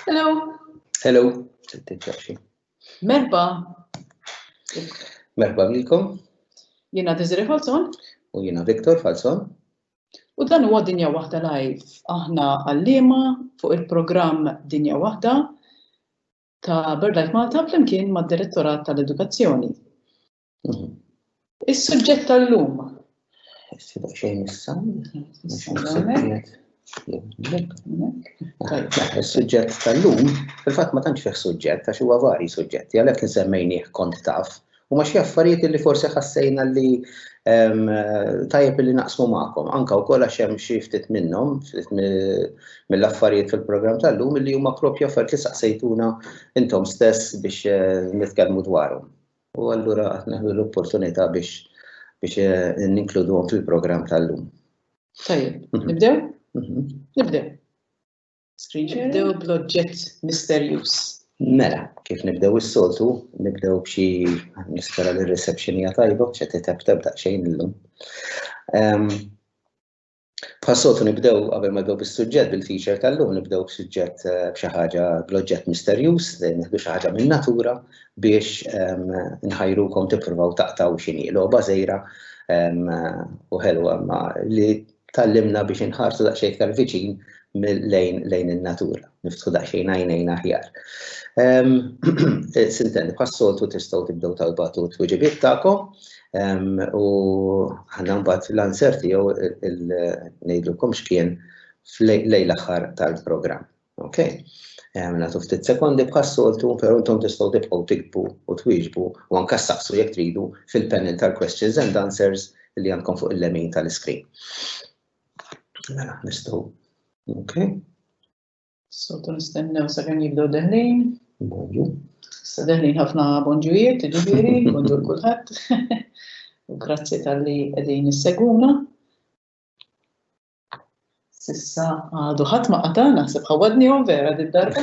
Hello. Hello. Merba. Merba lilkom. Jiena Desiree Falzon. U jiena Victor Falzon. U dan huwa Dinja Waħda Live. Aħna għallima fuq il-programm Dinja Waħda ta' BirdLife Malta flimkien mad-Direttorat tal-Edukazzjoni. Mhm. Is-suġġett tal-lum. Sibaq xejn issa. Is-suġġett tal-lum, fil-fatt ma tantx fih suġġett għax huwa vari suġġetti, għalhekk insemmejnih kont taf u ma xi affarijiet li forsi ħassejna li ehm, tajjeb li naqsmu magħkom, anka wkoll għax hemm xi ftit minnhom mill-affarijiet fil-programm tal-lum li huma propju affarijiet li saqsejtuna intom stess biex eh, nitkellmu dwarhom. U allura qed neħdu l-opportunità biex biex eh, ninkluduhom fil-programm tal-lum. Tajjeb, mhm. nibdew? Mhm. Nibdew. Screen share. Nibdew bl-oġġett misterjuż. Mela, kif nibdew is-soltu, nibdew b'xi nispera li r-reception hija tajba, ċe titebteb daqsxejn illum. Ehm, Bħas-soltu nibdew qabel ma nibdew bis-suġġett bil-feature tal-lum nibdew b'suġġett eh, b'xi ħaġa bl-oġġett misterjuż, nieħdu xi ħaġa minn natura biex ehm, nħajrukom tippruvaw taqtaw x'inhi logħba żejra ehm, u ħelwa ma li tallimna biex inħarsu daqsxejn iktar viċin lejn lejn in-natura, niftħu daqsxejn għajnejn aħjar. Ehm, Sintendi, bħas-soltu tistgħu tibdew tal-batu t-tweġibiet tagħkom U ħanna mbagħad l-answer tiegħu ngħidulkom x'kien lejn l-aħħar tal-programm. Ok? Nagħtu ftit sekondi bħas-soltu, però intom tistgħu tibqgħu tikbu u twieġbu u anke saqsu jekk tridu fil-panel tal-questions and answers li għandkom fuq il-lemin tal-iskrin. Mela, nistgħu. Ok? Sotu nistennew sa' kemm jibdew deħlin. Bonġu. Sa' deħlin ħafna bonġujiet, ġifieri, bonġu l-kulħadd. U grazzi tal-li qegħdin isseguna. Sissa għadu ħadd ma qata' naħseb ħawadni u vera din darba.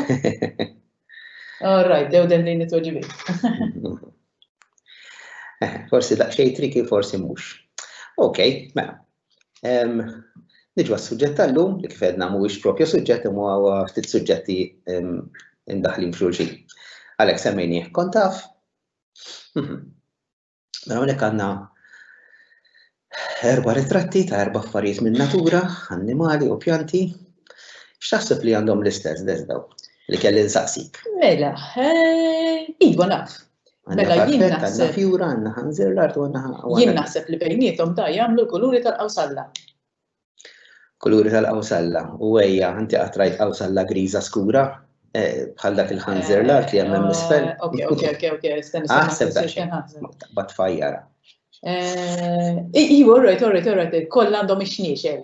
All right, dew deħlin it-tweġibiet. Forsi daqsxejn triki forsi mhux. Ok, mela, Niġu għas-suġġett tal-lum, li kif edna mhuwiex propju suġġett imma huwa ftit suġġetti indaħlin f'xulxin. Għalhekk semmejnieh kont taf. Mhm. Mela hawnhekk għandna erba' ritratti ta' erba' affarijiet minn natura, annimali u pjanti. X'taħseb li għandhom l-istess deżdaw li kelli nsaqsik? Mela, eh, iva naf, Mela jien naħseb. Fjura għandna ħanżir l-art u għandna. Jien naħseb li bejnietom da jagħmlu l-kuluri tal-qawsalla. Kuluri tal-qawsalla u għajja, inti qatrajt qawsalla griża skura eh, bħal dak il-ħanżir l-art li hemm misfel. Eh, ok, ok, ok, ok, stenni. Aħseb dak. Bat fajjara. Eh, Iwa, orrejt, orrejt, orrejt, koll għandhom ix-xniexel.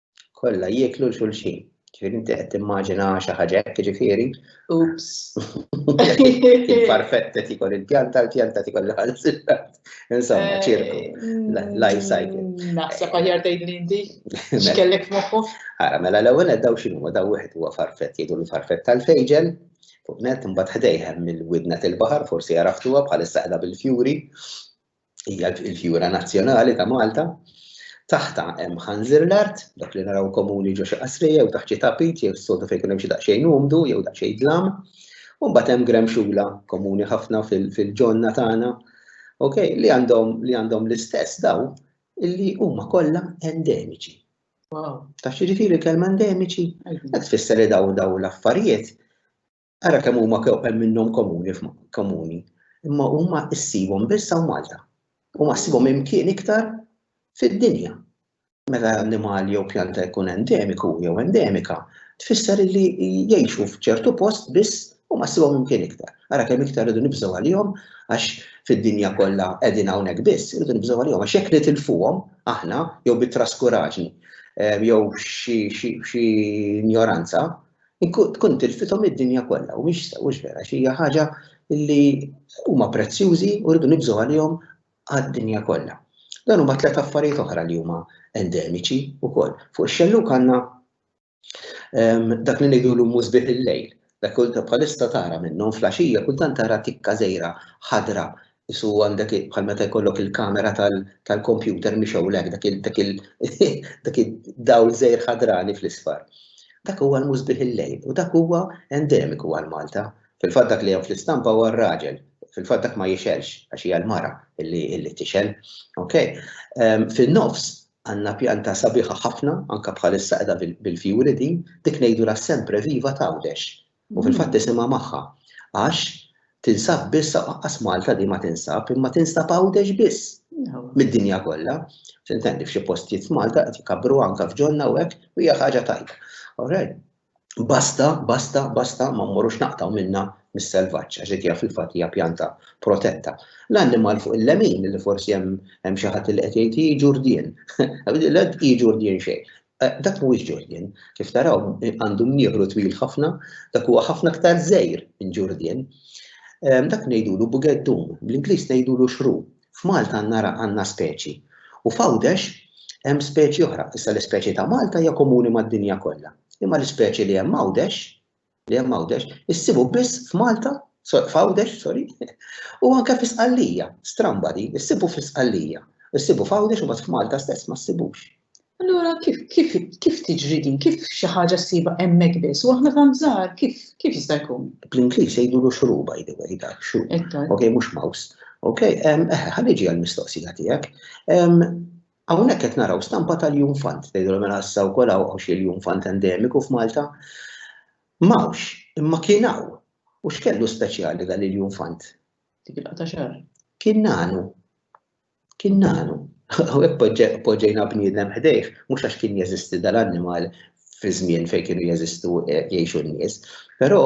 kollha jieklu l xulxin. Ġifieri inti qed timmaġina xi ħaġa hekk ġifieri. Ups. Il-farfetta tikol il-pjanta, l-pjanta tikol l-ħalsilla. Insomma, eh, ċirku. Life cycle. Mm, naħseb aħjar tgħidli inti. Mela. X'kellek f'moħħu? Ara, mela l-ewwel daw x'inhu daw wieħed huwa farfett jgħidu l-farfett tal-fejġel fuq net imbagħad ħdejhem mill-widna tal-baħar forsi għaraftuha bħalissa qiegħda bil-fjuri hija l-fjura nazzjonali ta' Malta. Taħta hemm ħanżir l-art, dak li naraw komuni ġo xi qasrija jew taħt xi tapit jew s-sodu fejn hemm xi daqsxejn umdu jew daqsxejn dlam. U mbagħad hemm gremxula komuni ħafna fil-ġonna tagħna, ok, li għandhom li għandhom l-istess daw illi huma kollha endemiċi. Wow. Ta' xiġifieri kelma endemiċi, qed tfisser li daw daw l-affarijiet Ara kemm huma hemm minnhom komuni komuni, imma huma ssibhom biss hawn Malta. Huma ssibhom imkien iktar fid-dinja. Meta annimal jew pjanta jkun endemiku jew endemika, tfisser li jgħixu f'ċertu post biss huma ssibhom imkien iktar. Ara kemm iktar irridu nibżgħu għalihom għax fid-dinja kollha qegħdin hawnhekk biss, irridu nibżgħu għalihom għax jekk nitilfuhom aħna jew bit-traskuraġni jew xi injoranza, Tkun tilfithom id-dinja kollha u mhix mhux vera xi hija ħaġa li huma prezzjużi u rridu nibżgħu għalihom għad-dinja kollha. Dan huma tliet affarijiet oħra li huma endemiċi wkoll. Fuq ix-xellug għandna ehm, dak li ngħidulu mużbih il-lejl. Dak kull bħalissa tara minnhom flaxija kultant tara tikka żejra ħadra isu għandek bħal meta jkollok il-kamera tal-kompjuter mhix hawnhekk dak il dak il dak id-dawl żejr ħadrani fl-isfar. Dak huwa l-musbih il-lejl u dak huwa endemiku għal Malta. Fil-fatt dak li hemm fl-istampa huwa r-raġel. Fil-fatt dak ma jixelx għax hija l-mara illi tixel. Okay? Ehm, fin-nofs għandna pjanta sabiħa ħafna, anka bħalissa qiegħda bil-fjuri din, dik ngħidulha sempre viva tawdex. U fil-fatt isimha magħha. Għax tinsab biss aqqas Malta di ma tinsab, imma tinsab Għawdex biss mid-dinja kollha. Tintendi f'xi postijiet f'Malta qed jkabbruha anke f'ġonna u hekk u hija ħaġa tajba. Alright. Basta, basta, basta ma mmorrux naqtgħu minnha mis-selvaġġ għax dik hija fil-fatt hija pjanta protetta. L-annimal fuq il-lemin li forsi hemm xi ħadd li qed jgħid hi ġurdien. Hi ġurdien xejn. Dak mhuwiex ġurdien. Kif taraw, għandu mnieħru twil ħafna, dak huwa ħafna aktar żgħir minn ġurdien. Dak ngħidulu bugeddun, bl-Ingliż ngħidulu shrew. F'Malta għandna għandna speċi. U f'Għawdex hemm speċi oħra. Issa l-ispeċi ta' Malta hija komuni mad-dinja kollha. Imma l-ispeċi li hemm Għawdex li hemm Għawdex, issibu biss f'Malta, f'Għawdex, sorry, u anke fi Sqallija, stramba din, issibu fi Sqallija, issibu f'Għawdex u f'Malta stess ma ssibux. Allura kif kif kif tiġri din, kif xi ħaġa ssibha hemmhekk biss, u aħna tant żgħar, kif kif jista' jkun? Bl-Ingliż jgħidulu xru by the way dak xru. Ok, mhux mouse. Ok, ehm, eħe, ħalli ġi għall-mistoqsija tiegħek. Ehm, Hawnhekk qed naraw stampa tal-junfant. Tgħidilhom mela issa wkoll hawn hawn xi l-junfant endemiku f'Malta. M'hawnx, imma kien hawn. U x'kellu speċjali dan il-junfant? Dik il-laqgħa ta' xahar. Kien nagħnu. Kien nagħnu. Hawnhekk poġġe- poġġejna bniedem ħdejh, mhux għax kien jeżisti dal-annimal fi żmien fejn kienu jeżistu eh, jgħixu n-nies, però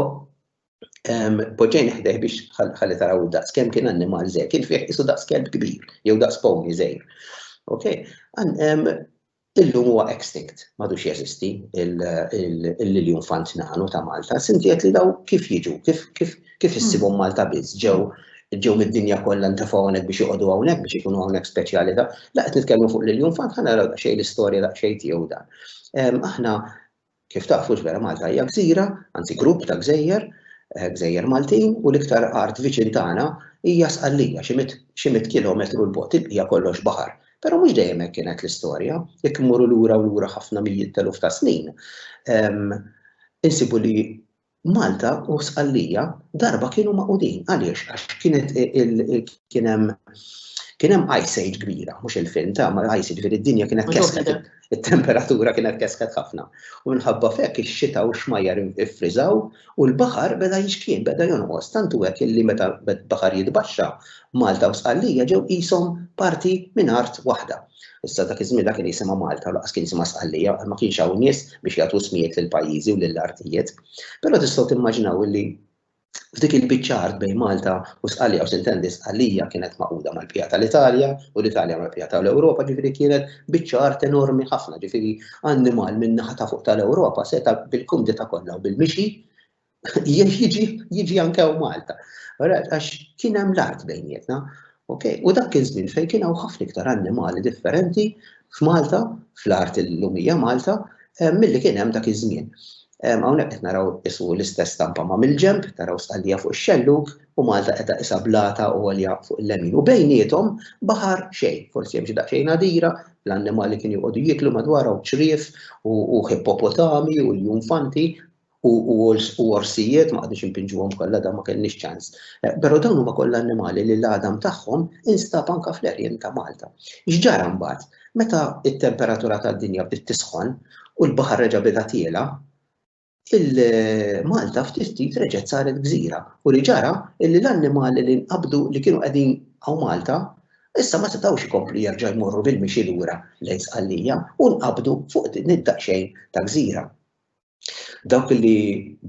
Poġġejn ħdej biex ħalli taraw daqs kemm kien annimal żej, kien fih isu daqs kelb kbir, jew daqs pony żej. Ok? Illum huwa extinct, madux jeżisti il-liljun fant nanu ta' Malta. Sinti qed li daw kif jiġu, kif issibhom Malta biss ġew ġew mid-dinja kollha ntefgħu hawnhekk biex joqogħdu hawnhekk biex ikunu hawnhekk speċjali ta' la qed nitkellmu fuq liljun fant ħana naraw daqsxejn l-istorja daqsxejn tiegħu dan. Aħna Kif tafu x'vera Malta hija gżira, anzi grupp ta' gżejjer, gżejjer Maltin u l-iktar art viċin tagħna hija Sqallija xi mitt xi mitt kilometru 'l bogħod, il-bqija kollox baħar. Però mhux dejjem hekk kienet l-istorja, jekk immorru lura u lura ħafna mijiet t'eluf ta' snin, insibu li Malta u Sqallija darba kienu maqudin għaliex għax kienet kien hemm kien hemm ice age kbira, mhux il-film ta' ma ice age id-dinja kienet kesket it-temperatura kienet kesket ħafna. U minħabba fek ix-xita u x-xmajjar iffriżaw u l-baħar beda jixkien, beda jonqos tantu hekk illi meta baħar jitbaxxa Malta u Sqallija ġew qishom parti minn art waħda. Issa dak iż-żmien dak kien jisimha Malta u laqas kien jisimha Sqallija għal ma kienx hawn nies biex jagħtu smijiet lil pajjiżi u lil artijiet. Però tistgħu timmaġinaw illi f'dik il-biċċa art bejn Malta u Sqallija u sintendi Sqallija kienet maquda mal-pija tal-Italja u l-Italja mal-pija tal-Ewropa ġifieri kienet biċċa art enormi ħafna ġifieri annimal min-naħa ta' fuq tal-Ewropa seta' bil-kumdità kollha u bil-mixi jiġi anke u Malta. Għax kien hemm l-art bejnietna. U dak kien żmien fejn kien hawn ħafna iktar annimali differenti f'Malta, fl-art il-lumija Malta, eh, milli kien hemm dak iż-żmien. Eh, hawnhekk qed naraw isu l-istess stampa ma' mill-ġemp, taraw stallija fuq ix-xelluk u Malta qed isa blata u għolja fuq il-lemin. U bejnietom baħar xejn, forsi hemm xi daqsxejn għadira, l-annimali kien joqogħdu jiklu madwarhom ċrief u hippopotami u l-junfanti u orsijiet ma qadux impinġuhom kollha dan ma kellniex ċans. Eh, però dawn huma kollha annimali li l-għadam tagħhom instab anka fl-erjen ta' Malta. X'ġara mbagħad? Meta t-temperatura tad-dinja bdiet tisħon u l-baħar reġa' beda tiela, il-Malta eh, ftit ftit reġgħet saret gżira u li ġara illi l-annimali li nqabdu li kienu qegħdin għaw Malta issa ma setgħux ikomplu jerġa' jmorru bil-mixi lura lejn sqallija u nqabdu fuq din id-daqsxejn ta' gżira. Dawk li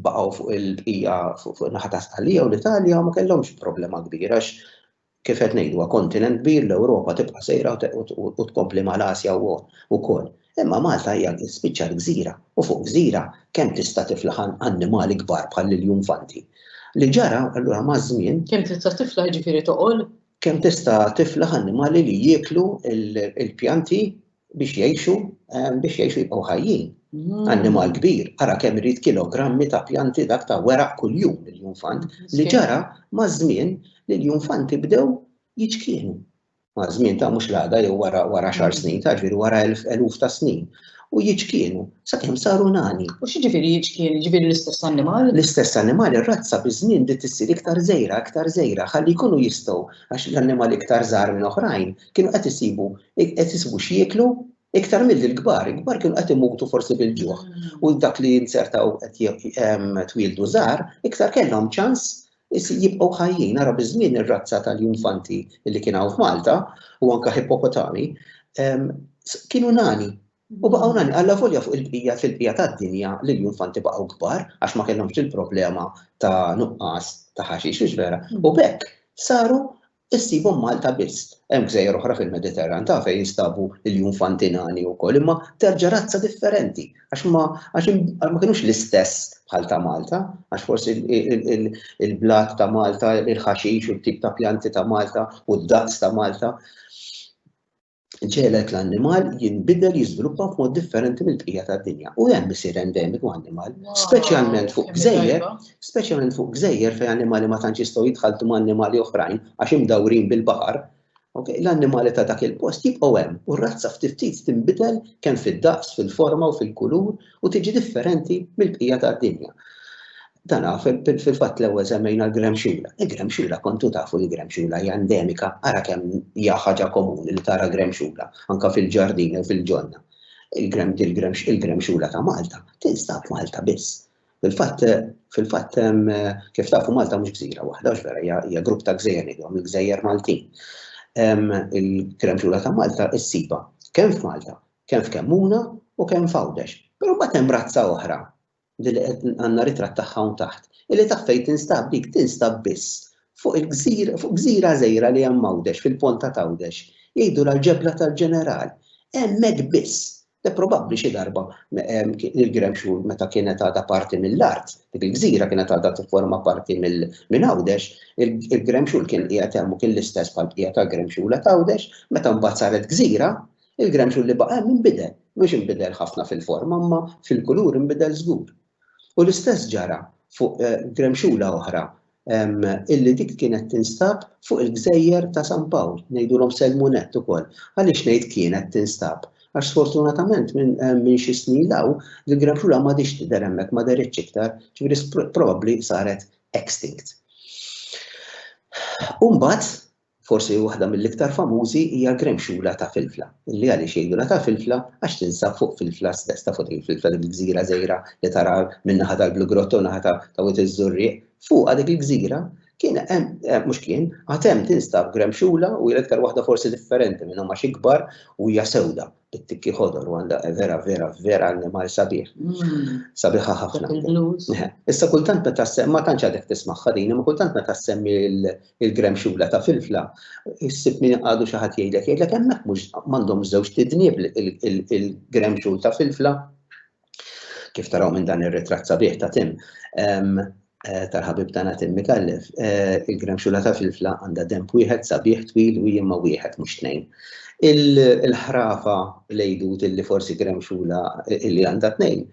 baqgħu fuq il-bqija fuq in-naħa ta' Sqallija u l-Italja ma kellhomx problema kbira għax kif qed ngħidu kontinent kbir l-Ewropa tibqa' sejra u tkompli mal-Asja wkoll. Imma Malta hija spiċċat gżira u fuq gżira kemm tista' tiflaħ annimali kbar bħal l-iljufanti. Li ġara allura maż-żmien. Kemm tista' tiflaħ jiġifieri toqol? Kemm tista' tiflaħ annimali li jieklu l-pjanti biex jgħixu biex jgħixu jibqgħu ħajjin. Mm. Annimal kbir, ara kemm irid kilogrammi ta' pjanti dak ta' weraq kuljum l-junfant li ġara ma' żmien li l-junfanti bdew jiċkienu. Ma' żmien ta' mhux l-għada jew wara wara xar mm. snin, ta' ġifieri wara eluf ta' snin. U jiċkienu, sakemm saru nani. U xi ġifieri jiċkienu, ġifieri l-istess annimal? L-istess annimal ir-razza biż-żmien bdiet issir iktar żejra, iktar żejra, ħalli jkunu jistgħu għax l-annimal iktar żgħar minn oħrajn kienu qed isibu Qed isibu x'jieklu iktar milli l-kbar, il-kbar kienu qed imutu forsi bil-ġuħ u dak li jinzertaw qed twieldu żgħar iktar kellhom ċans jibqgħu ħajjin. Nara biż-żmien ir-razza tal-junfanti li kien hawn f'Malta u anke hippopotami kienu nani U baqgħu nani għalla volja fuq il-bqija fil-bqija tad-dinja li l-infanti baqgħu kbar għax ma kellhomx il-problema ta' nuqqas ta' ħaxix vera. U bekk saru Issibhom Malta biss. Hemm gżejjer oħra fil-Mediterran taf fejn jinstabu l-junfanti nani wkoll imma terġa' razza differenti għax ma għax ma kinux l-istess bħal ta' Malta għax forsi il-blat ta' Malta, il-ħaxix u t-tip ta' pjanti ta' Malta u d-daqs ta' Malta. ġegħlet l-annimal jinbidel jiżviluppa f'mod differenti mill-bqija tad-dinja. U hemm isir endemiku annimal, speċjalment fuq gżejjer, speċjalment fuq gżejjer fejn annimali ma tantx jistgħu jitħaltu ma' annimali oħrajn għax imdawrin bil-baħar. L-annimali ta' dak il-post jibqgħu hemm u r-razza ftit ftit tinbidel kemm fid-daqs, fil-forma u fil-kulur u tiġi differenti mill-bqija tad-dinja. Dan fil-fatt l-ewwel semmejna l-gremxula. Il-gremxula kontu tafu li gremxula hija endemika, ara kemm hija ħaġa komuni li tara gremxula anke fil-ġardin u fil-ġonna. Il-gremxula ta' Malta tinstab Malta biss. Fil-fatt fil-fatt kif tafu Malta mhux gżira waħda vera hija grupp ta' gżejjer ngħidhom il-gżejjer Maltin. Il-gremxula ta' Malta issiba kemm f'Malta kemm f'Kemmuna u kemm f'Għawdex. Però mbagħad hemm razza oħra li li qed għandna ritratt tagħha hawn taħt, illi taf fejn tinstab dik, tinstab biss fuq il-gżira, fuq gżira żgħira li hemm Għawdex, fil-Ponta t'Għawdex. Jgħidulha l-Ġebla tal-Ġeneral. Hemmhekk biss. Le probabbli xi darba il-Gremxul meta kienet għadha parti mill-art, dik il-gżira kienet għadha tifforma parti minn Għawdex, il-Gremxul kien qiegħed hemm u kien l-istess bħall-bqija tal-Gremxula t'Għawdex, meta mbagħad saret gżira, Il-granċun li baqa' hemm inbidel, mhux inbidel ħafna fil-forma imma fil-kulur inbidel żgur. U l-istess ġara fuq granċula oħra illi dik kienet tinstab fuq il-gżejjer ta' San Pawl, ngħidulhom Selmunett ukoll. Għaliex ngħid kienet tinstab? Għax sfortunatament minn xi snin 'l hawn l-granċula m'għadhiex tidher hemmhekk, ma dehritx iktar, ġifieri probabbli saret extinct. U mbagħad Forsi waħda mill-iktar famużi hija l-gremxula ta' Filfla, li għaliex jgħidulha ta' Filfla għax tinsab fuq Filfla stess, tafu din Filfla dik il-gżira żgħira li tara min-naħa tal-Blugrotta u naħa ta' Wied iż-Żurrieq, fuqha dik il-gżira kien hemm, mhux kien, għad hemm tinstab gremxula u hija l-iktar waħda forsi differenti minnhom għax ikbar u hija sewda it-tikki ħodor u għandha vera vera vera annimal sabiħ. Mm. Sabiħa ħafna. Issa kultant meta ma tantx għadek tismagħha din, ma kultant meta semmi il-grem xula ta' filfla, issib min għadu xi ħadd jgħidlek jgħidlek hemmhekk mhux m'għandhom żewġ tidnieb il-grem xul ta' filfla. Kif taraw minn dan ir-ritratt sabiħ ta' Tim, Eh, tal-ħabib tagħna Tim Mikallef, eh, il-gremxula ta' filfla għandha demp wieħed sabiħ twil u jimma wieħed mhux tnejn. Il-ħrafa lejdut illi forsi gremxula illi għandha tnejn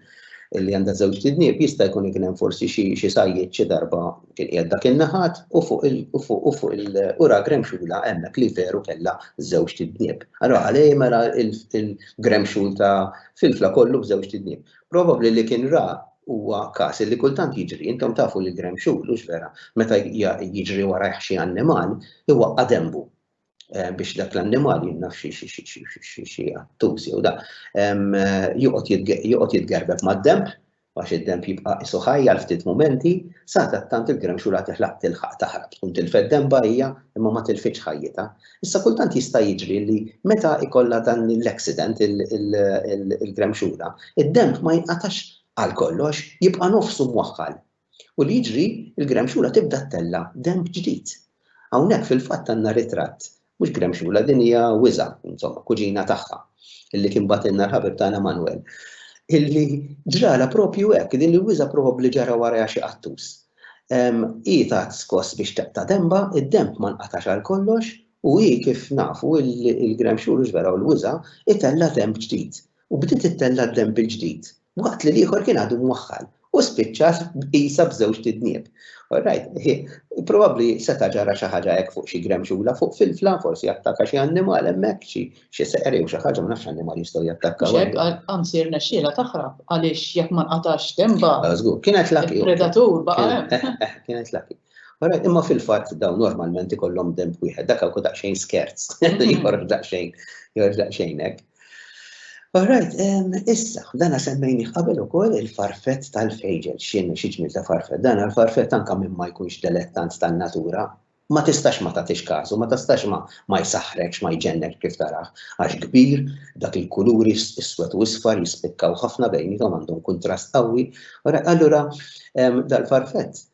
illi għandha żewġ tidnieb jista' jkun ikun hemm forsi xi xi sajjiet xi darba kien qiegħed dak in-naħat u fuq il u fuq il ura gremxula hemmhekk li veru kellha żewġ tidnieb. Allora għalej mela il-gremxul ta' Filfla kollu b'żewġt idnien. Probabbli li kien ra huwa każ li kultant jiġri, intom tafu li Graham Shule, hux vera, meta jiġri warajh xi annimal, iwaqqa' denbu biex dak l-annimal jien naf xi attus jew da, joqgħod jitgerbeb mad-denb Għax id-denb jibqa' qisu ħaj għal ftit mumenti, sadattant il-gremxula tiħlaq tilħaq taħrab. Tkun tilfet denbha hija, imma ma tilfitx ħajjitha. Issa kultant jista' jiġri li meta jkollha dan l-accident il-gremxula, id-denb ma jinqatax għal kollox, jibqa' nofsu mwaħħal. U li jiġri, il-gremxula tibda ttella' denb ġdid. Hawnhekk fil-fatt għandna ritratt Mhux gremxula, din hija wiża, insomma, kuġina tagħha, illi kien batilna l-ħabib tagħna Manwel. Illi ġrala propju hekk, din il-wiża probabbli ġara warajha xi qattus. Hi tat skoss biex taqta' demba, id-demb ma nqatax għal kollox, u hi kif nafu il-gremxul u ġveraw l-wiża, itella' demb ġdid. u bdiet ittella' d-demm bil-ġdid, waqt li l-ieħor kien għadu mwaħħal u spiċċa qisha b'żewġ tidnieb. Orajt, probabbli seta' ġara xi ħaġa hekk fuq xi gremxula, fuq filfla, forsi attaka xi annimal hemmhekk, xi xi seqer jew xi ħaġa, ma nafx x'annimal jistgħu jattakkaw. Mhux hekk, anzi rnexxielha taħrab għaliex jekk ma nqatax dembha. Ah, żgur, kienet lucky. Il-predatur baqa' hemm. Eh, eh, eh, kienet lucky. Orajt, imma fil-fatt dawn normalment ikollhom demb wieħed, dak hawn daqsxejn skerz, jħorġ daqsxejn, jħorġ daqsxejn hekk. All right, issa, dana semmejni qabel ukoll il-farfett tal-fejġel, x'inhu xi ġmiel ta' farfett. Dan il-farfett anke minn ma jkunx delettant tan-natura, ma tistax ma tagħtix każu, ma tistax ma ma jsaħħrekx, ma jġennek kif tarah, għax kbir, dak il-kuluri iswed u isfar jispikkaw ħafna bejnietom għandhom kuntrast qawwi. Allura dal-farfett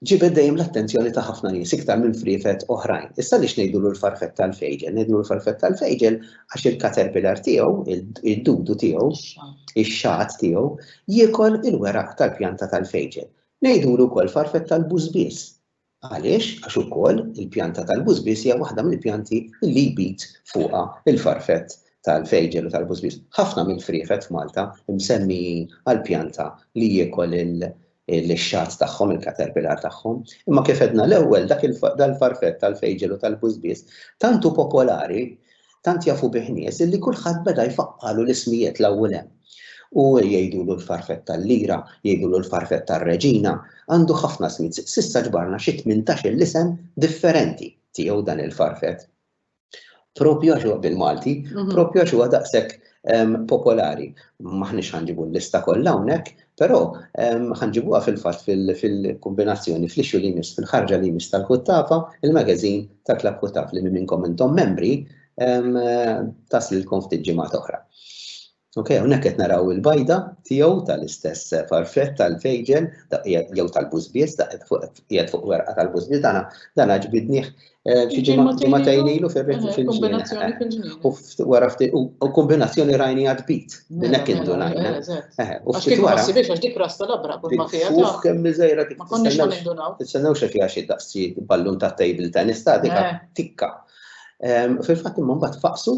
Ġibed dejjem l-attenzjoni ta' ħafna nies iktar minn friefet oħrajn. Issa għaliex ngħidulu l-farfett tal-fejġel? Ngħidulu l-farfett tal-fejġel għax il-caterpillar tiegħu, id-dudu tiegħu, ix-xagħat tiegħu, jiekol il-weraq tal-pjanta tal-fejġel. Ngħidulu wkoll farfett tal-bużbież. Għaliex? Għax ukoll il-pjanta tal-bużbież hija waħda mill-pjanti li jbid fuqha l-farfett tal-fejġel u tal-bużbież. Ħafna mill-friefet f'Malta msemmijin għall-pjanta li jiekol lix-xatt tagħhom, il-caterpillar tagħhom. Imma kif għedna l-ewwel, dak dal-farfett tal-fejġel u tal-bużbież tant hu popolari, tant jafu bih nies illi kulħadd beda jfaqqagħlu l-ismijiet 'l hawn u 'l hemm. U jgħidulu l-farfett tal-lira, jgħidulu l-farfett tar-reġina, għandu ħafna smijiet. S'issa ġbarna xi tmintax-il isem differenti tiegħu dan il-farfett. Propju għax huwa bil-Malti, propju għax huwa daqshekk popolari. Maħniex ħanġibu l-lista kollha hawnhekk, però ħanġibuha fil-fatt fil-kombinazzjoni fl-issue li jmiss fil-ħarġa li jmiss tal-Kuttafa, il-magazine ta' Klabb Kuttaf li minn minnkom intom membri taslilkom ftit ġimgħat oħra. Ok, hawnhekk qed naraw il-bajda tiegħu tal-istess farfret tal-fejġel jew tal-bus biss qiegħed fuq werqa tal-bus biss dana dana ġbidnieh eh, xi ġimgħatejn ilu fil-ġnien. U wara ftit u kombinazzjoni rajni għad bit. Din hekk indunajna. U ftit wara. Biex għax dik rasta labra kull ma fiha. Fuq kemm miżejra dik. Ma konniex ma nindunaw. Tistennew xi fiha xi daqsi ballun ta' table tennis ta' dika tikka. Fil-fatt imma mbagħad faqsu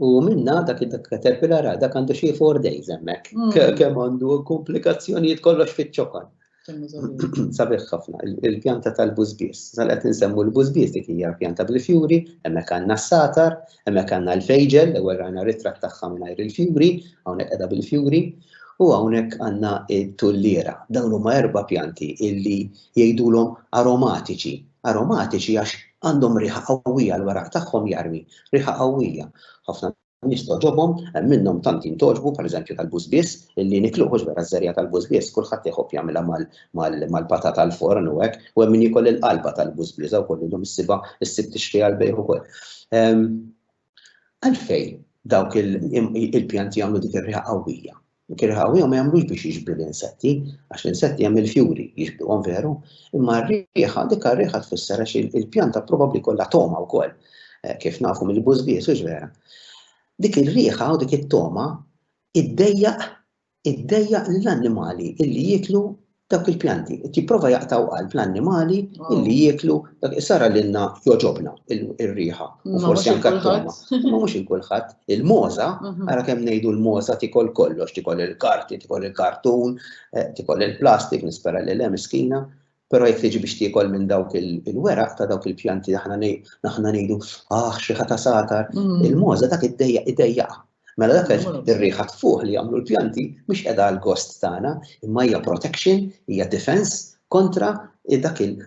U minna dak id-dak Caterpillar għal dak għandu xie four days hemmhekk. Kemm għandu komplikazzjonijiet kollox fiċ-ċokan. Sabiħ ħafna, il-pjanta tal-bużbies. Sal qed insemmu l-bużbies dik hija pjanta bil-fjuri, hemmhekk għandna s-satar, hemmhekk għandna l-fejġel, l-ewwel rajna ritratt tagħha mingħajr il-fjuri, hawnhekk qiegħda bil-fjuri, u hawnhekk għandna t-tulliera. Dawn huma erba' pjanti illi jgħidulhom aromatiċi aromatiċi għax għandhom riħa qawwija, l-weraq tagħhom jarmi riħa qawwija. Ħafna nies togħġobhom, hemm minnhom tant jintgħoġbu, pereżempju tal-bużbież, li nikluh hux vera ż-żerriegħa tal-bużbież, kulħadd iħobb jagħmilha mal-patata għal forn u hekk, u hemm min jiekol il-qalba tal-bużbież, hawn ukoll illum issibha ssib tixtieq għall-bejgħ ukoll. Għalfejn dawk il-pjanti jagħmlu dik ir-riħa qawwija? Dik ir-riħa qawwija ma jagħmlux biex jiġbdu l-insetti, għax l-insetti hemm il-fjuri jiġbduhom veru, imma r-riħa, dik ir-riħa tfisser għax il-pjanta probabbli jkollha togħma wkoll, eh, kif nafu mill-bużbies, hux vera. Dik ir-riħa u dik it-togħma iddejjaq iddejjaq lill-annimali illi jieklu dawk il-pjanti, qed jipprova jaqtgħu qalb l-annimali illi jieklu dak isara lilna jogħġobna ir-riħa u forsi anke t-togħma. Imma mhux il kulħadd, il-moża, ara kemm ngħidu l-moża tikol kollox, tikol il-karti, tikol il-kartun, eh, tikol il-plastik, nispera li le miskina, Pero jek tiġi biex tiekol minn dawk il-weraq ta' dawk il-pjanti aħna ngħidu ah xi ħata satar, mm. il-moża dak id-dejja id-dejja Mela dak ir-riħa tfuħ li jagħmlu l-pjanti mhix qiegħda għal gost tagħna, imma hija protection, hija defense kontra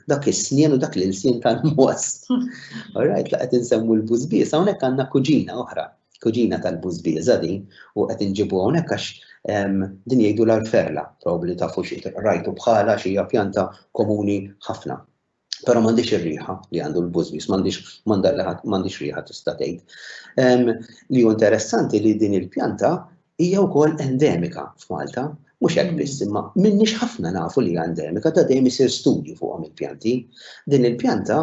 dak is-snien u dak l-ilsien tal-moss. Alright, la qed insemmu l-bużbież, hawnhekk għandna kuġina oħra, kuġina tal-bużbieża din, u qed inġibu hawnhekk għax din jgħidu l-alferla, probabli tafu xi rajtu bħala xi hija pjanta komuni ħafna. Però m'għandix ir-riħa li għandu l-bużbis, m'għandix riħa tista' tgħid. Li hu interessanti li din il-pjanta hija wkoll endemika f'Malta, mhux hekk biss mm. imma minnix ħafna nafu li hija endemika ta' dejjem isir studju fuqhom il-pjanti. Din il-pjanta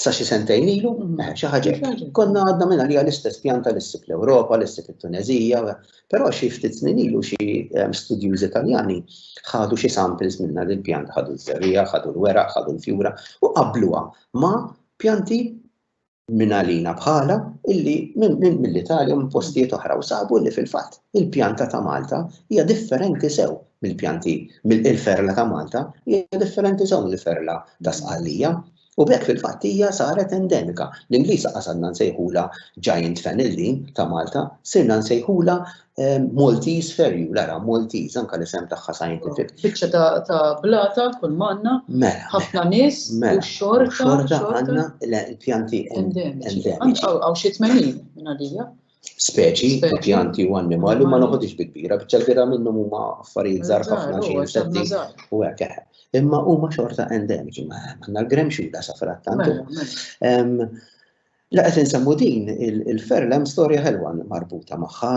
sa xi sentejn ilu, mm. eh, xi ħaġa konna għadna minna li l-istess pjanta li ssib l-Ewropa, li ssib it-Tunezija, Però xi ftit snin ilu xi ehm, studjużi Taljani ħadu xi samples minna din pjanta ħadu ż-żerrija, ħadu l-weraq, ħadu l-fjura u qabluha ma' pjanti minn għalina bħala illi minn mill-Italja minn postijiet oħra u sabu li fil-fatt il-pjanta ta' Malta hija differenti sew mill-pjanti mill-ferla ta' Malta hija differenti sew mill-ferla ta' Sqallija. U b'hekk fil-fatt hija saret endemika. L-Ingliż qas għadna nsejħulha giant fennel din ta' Malta, sirna nsejħulha ehm, Maltese ferju, lara Maltese, anka l-isem tagħha scientific. Biċċa ta' blata kull manna, mela, ħafna mela. nies, mela, u xorta. Xorta għandna l-pjanti endemiċi. Għaw xi 80 minn għalija. speċi, pjanti u annimali ma noħodix bi kbira, biċċa kbira minnhom huma affarijiet żgħar ħafna xi insetti u hekk eħe. Imma huma xorta endemiċi ma għandna l-gremxuda sa frattantu. Mela, mela. La qed insemmu din il-ferl hemm storja ħelwa marbuta magħha,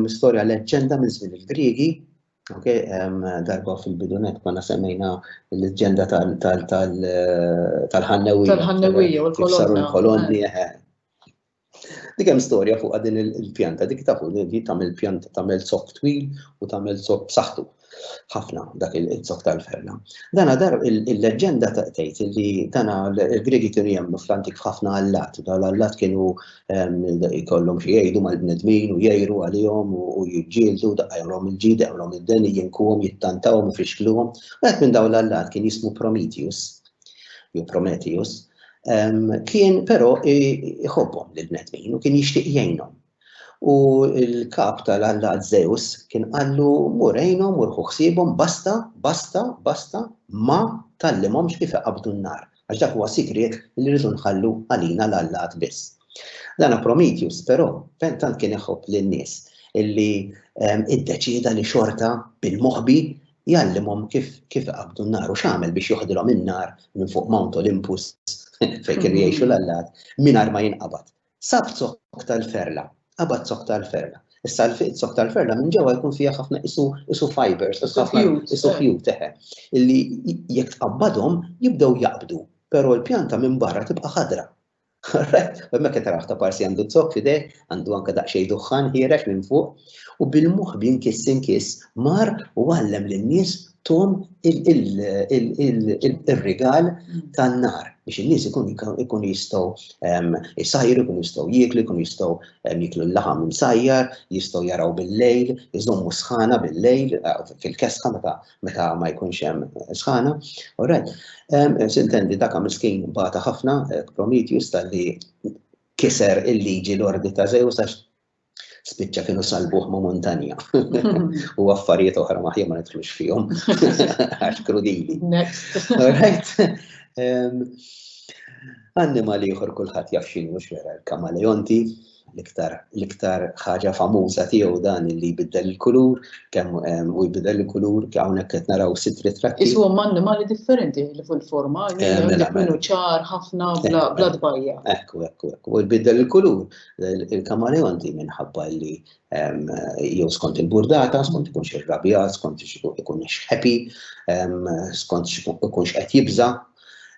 storja leġġenda minn żmien il-Griegi, ok, darba fil-bidunet konna semmejna l-leġġenda tal-ħannewija. Tal-ħannewija u l-kolonna. Saru l-kolonni, Dik hemm storja fuqha din il-pjanta, dik tafu li tagħmel pjanta tagħmel zokk twil u tagħmel zokk b'saħħtu. Ħafna dak il-zokk tal-ferna. Dana dar il-leġġenda tgħid li dana l-Griegi kienu jemmnu fl-antik ħafna allat, dawn l-allat kienu ehm, jkollhom xi jgħidu mal-bnedmin u jgħiru għalihom u jiġġieldu daqajhom il-ġid, daqajhom id-den, jinkuhom, jittantawhom u fixkluhom. Wieħed minn dawn l-allat kien jismu Prometheus jew Prometheus, kien però iħobbhom lil bnedmin u kien jixtieq jgħinhom. U l-kap tal-alla Zeus kien qallu mur għinhom u ħsiebhom basta, basta, basta ma tallimhomx kif iqabdu n-nar, għax dak huwa sigriet li rridu nħallu għalina l-allat biss. Dana Prometheus però fejn tant kien iħobb lin-nies illi iddeċieda li xorta bil-moħbi Jgħallimhom kif kif iqabbdu n-nar u x'għamel biex joħdilhom in-nar minn fuq Mount Olympus fejn kienu jgħixu l-allat mingħajr ma jinqabad. Sab zokk tal-ferla, qabad zokk tal-ferla. Issa l-fiq zokk tal-ferla minn ġewwa jkun fiha ħafna isu isu fibers, isu ħafna isu ħjut eħe. Illi jekk tqabbadhom jibdew jaqbdu, però l-pjanta minn barra tibqa' ħadra. Hemmhekk qed taraħ ta' parsi għandu zokk f'idejh, għandu anke daqsxejn duħħan ħiereġ minn fuq, u bil-moħbi inkiss inkiss mar u għallem lin-nies tum ir-rigal tan-nar biex in-nies ikunu jistgħu jsajru, ikunu jistgħu jieklu, ikunu jistgħu jieklu l-laħam imsajjar, jistgħu jaraw bil-lejl, iżommu sħana bil-lejl fil-kesħa meta meta ma jkunx hemm sħana. All right. Ehm, Sintendi dak miskin bata ħafna eh, Prometheus tal-li kiser il-liġi l-ordi ta' Zeus għax spiċċa kienu salbuħ ma' montanja. U affarijiet oħra maħja ma nidħlux fihom. Għax krudili. Next. All right. Ehm, Annimali ieħor kulħadd jaf x'inhu x'era l-kamaleonti, l-iktar l-iktar ħaġa famuża tiegħu dan li jbiddel il-kulur, kemm u jbiddel il-kulur, hawnhekk qed naraw sitt ritratti. Isu hemm annimali differenti li fuq il-forma, eh, mela, mela. ċar ħafna eh, bla eh. tbajja. Ekku, ekku, ekku. U jbiddel il-kulur, il-kamaleonti minħabba li jew skont il-burdata, skont ikunx ir-rabja, skont ikun xħepi, skont ikunx qed jibża,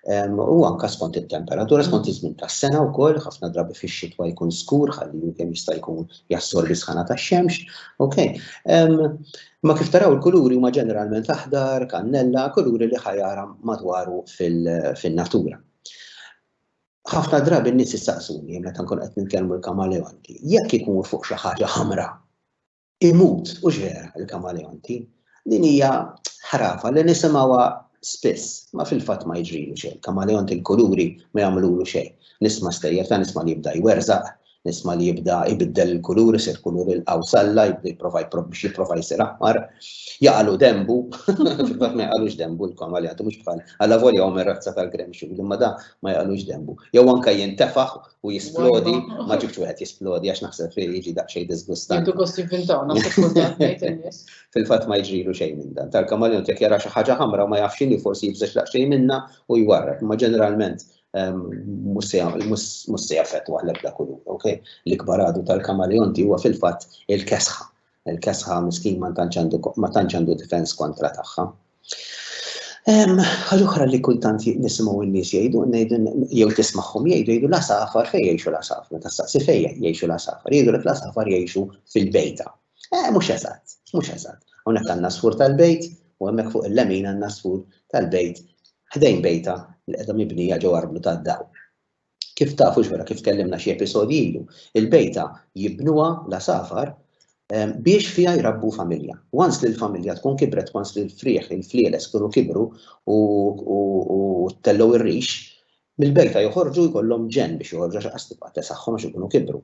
U anka skont it-temperatura, skont iż-żmien tas-sena wkoll, ħafna drabi fix-xitwa jkun skur ħalli kemm jista' jkun jassorbi sħana tax-xemx. Ok. Ma kif taraw il-kuluri huma ġeneralment aħdar, kannella, kuluri li ħajara madwaru fin-natura. Ħafna drabi n-nies issaqsuni meta nkun qed nitkellmu l-kamaleonti, jekk ikun fuq xi ħaġa ħamra, imut u x'vera il-kamaleonti. Din hija ħrafa li nisimgħuha spiss, ma fil-fatt ma jiġrilu xejn. Kamaleonti l-kuluri ma jagħmlulu xejn. Nisma' stejjer ta' nisma' li jibda jwerżaq, nisma' li jibda jbiddel il-kulur, isir kulur il-qawsalla, jibda jipprova biex jipprova jsir aħmar, jaqalu denbu, fil-fatt ma jaqalux denbu l-kamaleonti mhux bħal, allavolja huwa mir-razza tal-gremxuli, imma da ma jaqalux denbu. Jew anke jintefaħ u jisplodi, ma ġibx wieħed jisplodi għax naħseb fi jiġi daqsxejn disgustant. Intu kost jivvintaw, Fil-fatt ma jiġrilu xejn minn dan. Tal-kamaleon jekk jara xi ħaġa ħamra ma jafx x'inhi forsi jibżax daqsxejn minna u jwarrek, ma ġeneralment ehm, mhux se jaffettwa l-ebda kulur, ok? L-ikbar għadu tal-kamaleonti huwa fil-fatt il-kesħa. Il-kesħa miskin ma tantx għandu ma tantx għandu difens kontra tagħha. Ħaġa oħra li kultant nisimgħu n-nies jgħidu, jew tismagħhom jgħidu jgħidu la safar fejn jgħixu la safar, meta staqsi fejn jgħixu la safar, jgħidu la safar jgħixu fil-bejta. Eh, mhux eżatt, mhux eżatt. Hawnhekk għandna sfur tal-bejt u hemmhekk fuq il-lemin għandna sfur tal-bejt ħdejn bejta li qiegħda mibnija ġew arblu tad-dawl. Kif tafu xwara kif tkellimna xi episodji ilu, il-bejta jibnuha la safar ehm, biex fiha jrabbu familja. Once li l-familja tkun kibret, once li l-frieħ, il-flieles kunu kibru u tellow ir-rix, mill-bejta joħorġu jkollhom ġen biex joħorġu għax qas tibqa' tesaħħom għax ikunu kibru.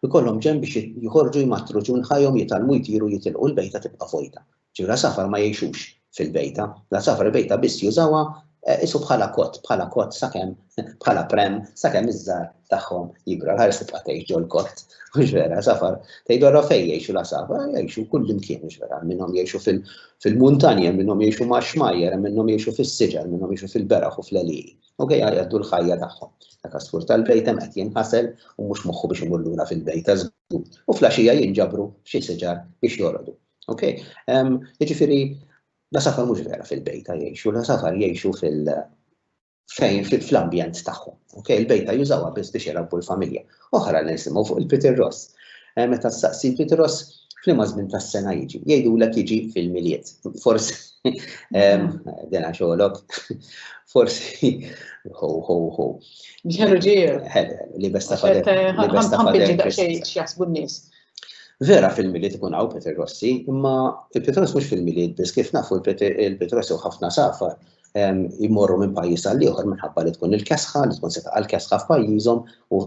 Ikollhom ġen biex joħorġu jmattru ġun ħajhom jitalmu jtiru jitilqu l-bejta tibqa' fojta. Ġifieri l-għasafar ma jgħixux fil-bejta. L-għasafar il-bejta biss jużawha qisu bħala kott, bħala kott sakemm, bħala pram, sakemm iż-żgħar tagħhom jikbru. Għall-ħares tibqa' tgħix ġol-kott, mhux vera? L-għasafar tgħidu allura fejn jgħixu l-għasafar? Jgħixu kullimkien, mhux vera? Hemm minnhom jgħixu fil-muntanja, hemm minnhom jgħixu max-xmajjar, hemm minnhom jgħixu fis-siġar, hemm minnhom jgħixu fil-beraħ u fl-għelieqi. Okej, jgħaddu l-ħajja tagħhom. Dak għasfur tal-bejta hemm qed jinħasel u mhux moħħu biex imur lura fil-bejta żgur. U fl-għaxija jinġabru f'xi siġar biex jorqdu. Ok, jiġifieri la safar mhux vera fil-bejta jgħixu, la safar jgħixu fil- fejn fl-ambjent tagħhom. Ok, il-bejta jużawha biss biex jirabbu l-familja. Oħra li nisimgħu fuq il-Peter Ross. Eh, meta saqsi Peter Ross f'liema żmien tas-sena jiġi, jgħidulek jiġi fil-miliet. Forsi dena xogħolok. Forsi ho ho ho. Ġeru ġeru. Li besta fader. Li besta fader. Jasbu n-nies. Vera fil-Milied ikun hawn Peter Rossi, imma il-Pietros mhux fil-Milied biss kif nafu il-Pietros jew ħafna safar jmorru minn pajjiż għal ieħor minħabba li tkun il-kesħa, li tkun setaq għal kesħa f'pajjiżhom u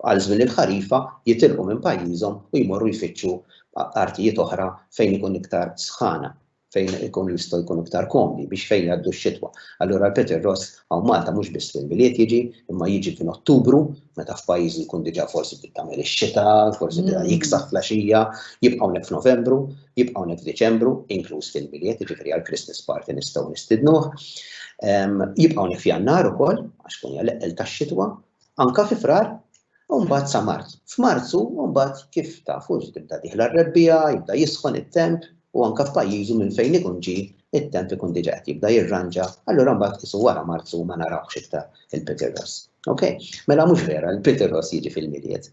għal żmien il-ħarifa jitilqu minn pajjiżhom u jmorru jfittxu artijiet oħra fejn ikun iktar sħana. fejn ikun jistgħu jkunu iktar komdi biex fejn jgħaddu x-xitwa. Allura l-Peter Ross hawn Malta mhux biss fil-Milied jiġi, imma jiġi fin Ottubru, meta f'pajjiżi jkun diġà forsi bdiet tagħmel ix-xita, forsi diġà mm. jiksaħ flaxija, jibqa' hawnhekk f'Novembru, jibqa' hawnhekk f'Diċembru, inkluż fil-Milied, jiġifieri għal Christmas party nistgħu nistidnuh. Ehm, jibqa' hawnhekk f'Jannar ukoll, għax kun hija l-eqqel tax-xitwa, Anka fi Frar, u mbagħad sa Marzu. F'Marzu, u mbagħad kif tafu tibda dieħla r-rebbiegħa, jibda jisħon it-temp, u anka f'pajjiżu minn fejn ikun ġie, it-temp ikun diġà qed jibda jirranġa, allura mbagħad qisu wara Marzu ma narawhx iktar il-Peter Ross. Ok? Mela mhux vera, il-Peter Ross jiġi fil-Milied,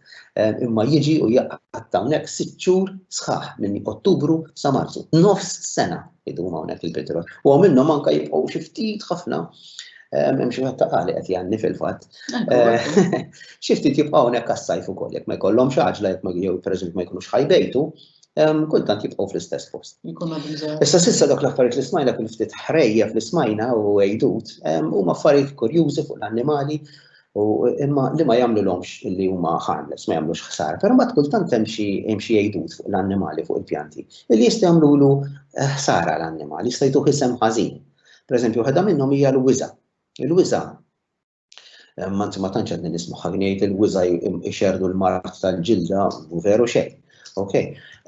imma jiġi u jaqgħad hawnhekk sitt xhur sħaħ minn Ottubru sa Marzu. Nofs sena idum hawnhekk il-Peter Ross. U minnhom anka jibqgħu xi ftit ħafna Hemm xi ħadd taqali qed jgħanni fil-fatt. Xi ftit jibqgħu hawnhekk għas-sajf ukoll jekk ma jkollhomx għaġla jekk ma jew pereżempju ma jkunux ħajbejtu, kultant jibqgħu fl-istess post. Issa sissa dak l-affarijiet li smajna kien ftit ħrejja fl smajna u għejdut, huma affarijiet kurjużi fuq l-annimali u imma li ma jagħmlulhomx li huma harmless, ma jagħmlux ħsar, però ma kultant hemm xi hemm xi għejdut fuq l-annimali fuq il-pjanti li jista' jagħmlulu eh, ħsara l-annimali, jista' jtuh isem ħażin. Pereżempju, waħda minnhom hija l-wiża. Il-wiża eh, ma ma tantx qed nismaħħa ngħid il-wiża jxerdu l-mart tal-ġilda u veru xejn. Ok,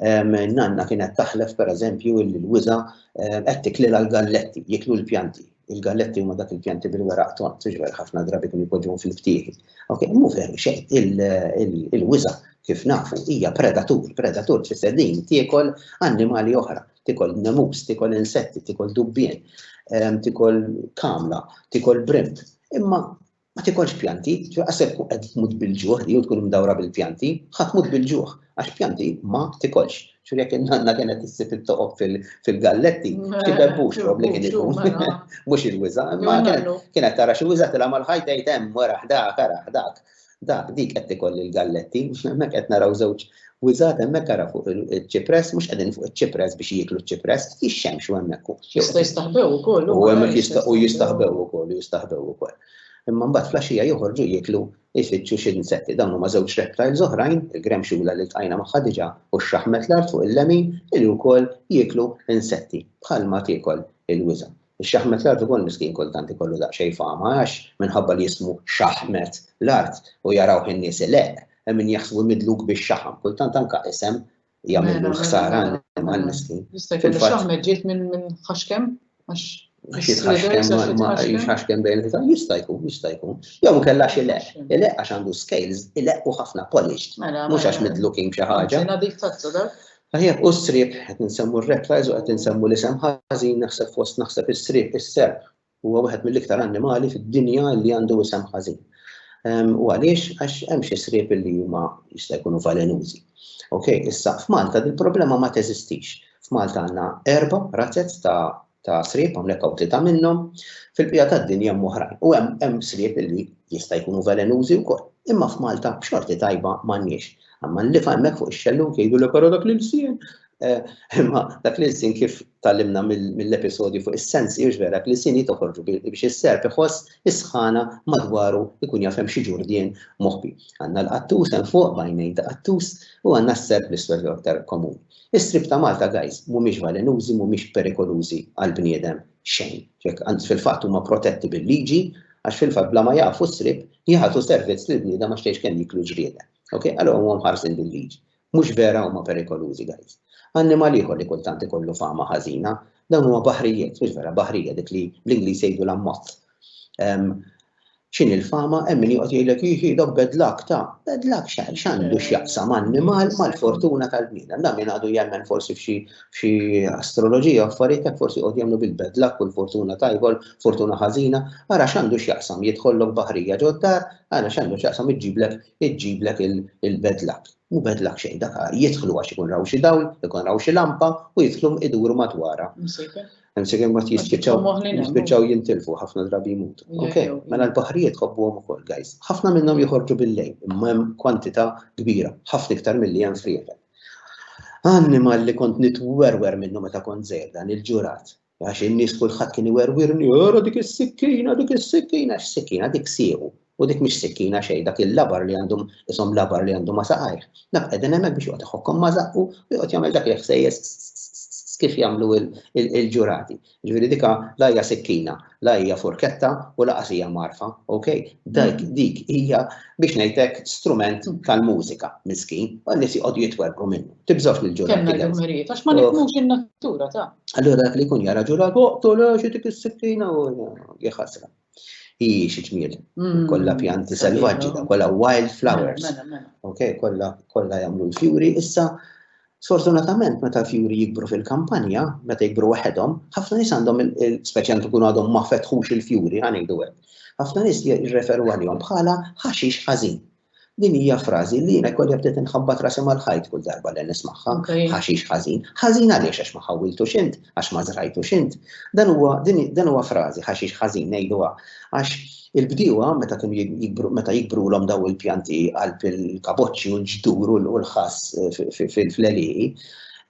nanna kienet taħlef per eżempju il-wiza qed tikli l-galletti, jiklu l-pjanti. Il-galletti huma dak il-pjanti bil-weraq ton, tiġver ħafna drabi kun jpoġġuhom fil-ftieħi. Ok, mhu veru xejn, il-wiza kif nafu hija predatur, predatur tfisser din tiekol annimali oħra. tikol nemus, tikol insetti, tikol dubbien, ehm, tikol kamla, tikol brimt. Imma ma tikolx pjanti, għasek kun qed tmut bil-ġuħ li tkun mdawra bil-pjanti, ħadd mut bil-ġuħ, għax pjanti ma tikolx. Xur jek nanna kienet issib it-toqob fil-galletti, xi bebbux rob li kien ikun. Mhux il-wiża, imma kienet tara xi wiża tilha mal-ħajta jtem wara ħdak, ara ħdak. Da, dik qed tikolli l-galletti, hemmhekk qed naraw żewġ wiżgħat hemmhekk ara fuq il-ċipress, mhux qegħdin fuq iċ-ċipress biex jieklu ċ-ċipress, jixxemx u hemmhekk u. Jista' jistaħbew ukoll. U hemmhekk jista' u jistaħbew ukoll, jistaħbew ukoll. Imma mbagħad flaxija joħorġu jieklu jfittxu xi insetti. Dawn huma żewġ reptiles oħrajn, il-grem xula li tqajna magħha diġà u x-xaħmet l-art fuq il-lemin li wkoll jieklu insetti bħalma tiekol il-wiżgħa. Ix-xaħmet l-art ukoll miskin kultant ikollu daqsxejn fama għax minħabba li jismu xaħmet l-art u jarawh in-nies ileqq, hemm min jaħsbu midluk bix-xaħam. Kultant anke isem jagħmillu l-ħsara għall-annimal miskin. Jista' jkun ix-xaħmet ġiet minn ħaxkem għax Jitħaxkem bejn il-ħitan, jista' jkun, jista' jkun. Jew inkella xi leq, ileq għax għandu scales, ileq u ħafna polished, mhux għax midlukin b'xi ħaġa. Tajjeb hu s-sriep, qed insemmu r-rat race u qed insemmu l-isem ħażin naħseb fost naħseb is-sriep, is-serp huwa wieħed mill-iktar annimali fid-dinja li għandu isem ħażin. U għaliex? Għax hemm xi sriep li huma jista' jkunu valenużi. Ok, issa f'Malta dil-problema ma teżistix. F'Malta għandna erba' razez ta' ta' sriep, hawnhekk hawn tlieta minnhom, fil-bqija tad-dinja hemm oħrajn. U hemm hemm sriep li jista' jkunu velenużi wkoll. Imma f'Malta b'xorti tajba m'għandniex. Imma l-lifa hemmhekk fuq ix-xellug jgħidu le però dak l-ilsien. Eh, imma dak l-ilsien kif tallimna mill-episodju fuq is-sensi hux vera dak l-ilsien jitoħorġu biex is-serp iħoss is-sħana madwaru jkun jaf hemm xi ġurdien moħbi. Għandna l-qattus hemm fuq bajnejn ta' qattus u għandna s-serp l-iswed aktar komuni. Is-srib ta' Malta guys mhumiex valenużi mhumiex perikolużi għal bniedem xejn. Jekk anzi fil-fatt huma protetti bil-liġi għax fil-fatt bla ma jaqfu s-srib jagħtu servizz lil bniedem għax tgħidx kemm jieklu ġrieden. Ok? Allura huma mħarsin bil-liġi. Mhux vera huma perikolużi guys. Annimal ieħor li kultant ikollu fama ħażina, dawn huma baħrijiet, mhux vera baħrija dik li bl-Ingliż jgħidu l-ammozz. X'inhi l-fama hemm min joqgħod jgħidlek hi hi dok bad luck ta' bad luck x'għandu x'jaqsam annimal mal-fortuna tal-bniedem. Dan min għadu jemmen forsi f'xi f'xi astroloġija affarijiet hekk forsi joqgħod jemmnu bil-bad luck u l-fortuna tajba l-fortuna ħażina. Ara x'għandu x'jaqsam jidħollok baħrija ġod-dar, ara x'għandu x'jaqsam iġġiblek iġġiblek il-bad luck. Mhu bad luck xejn dak jidħlu għax ikun raw xi dawl, ikun raw xi lampa u jidħlu iduru madwarha. Hemm se kemm jispiċċaw jintilfu ħafna drabi jmutu. Ok, mela l-baħrijiet ħobbuhom ukoll, guys. Ħafna minnhom joħorġu bil-lejl, imma hemm kwantità kbira, ħafna iktar milli hemm friegħel. Annimal li kont nitwerwer minnu meta kont żejda, il-ġurat. Għax in-nies kulħadd kien iwerwirni, ora dik is-sikkina, dik is-sikkina, x-sikkina dik siequ. U dik mhix sikkina xejn, dak il-labar li għandu ishom labar li għandu ma' saqajh. Naf qegħdin hemmhekk biex joqgħod iħokkom ma' żaqqu u joqgħod jagħmel dak il-ħsejjes kif jagħmlu l-ġurati. Ġifieri dika la hija sikkina, la hija furketta u laqas hija mgħarfa, ok? Dik dik hija biex ngħidlek strument tal-mużika miskin, u n-nies joqogħdu jitwerwru minnu. Tibżgħux mill-ġurati. Kellna l-dmirijiet għax ma nifhmux in-natura ta'. Allura dak li jkun jara ġurat, oqtol għax dik is-sikkina u jeħasra. Hi xi ġmiel, mm. kollha pjanti selvaġġi, kollha wild flowers. Mela, mela, mela. Ok, kollha kollha jagħmlu l-fjuri. Issa Sfortunatament, meta fjuri jikbru fil-kampanja, meta jikbru waħedhom, ħafna nies għandhom, speċjalment ikunu għadhom ma fetħux il-fjuri, għanejdu hekk. ħafna nies jirreferu għalihom bħala ħaxix ħażin. Din hija frażi li jiena jkolli bdiet inħabbat rasi mal-ħajt kull darba li nismagħha, ħaxix ħażin. Ħażin għaliex għax ma ħawwiltu xint, għax ma żrajtu xint. Dan huwa dan huwa frażi ħaxix ħażin ngħiduha għax il-bdiewa meta kienu jikbru meta jikbrulhom daw il-pjanti għal il-kaboċċi u l-ġdur u l-ħass eh, fil-fleliqi,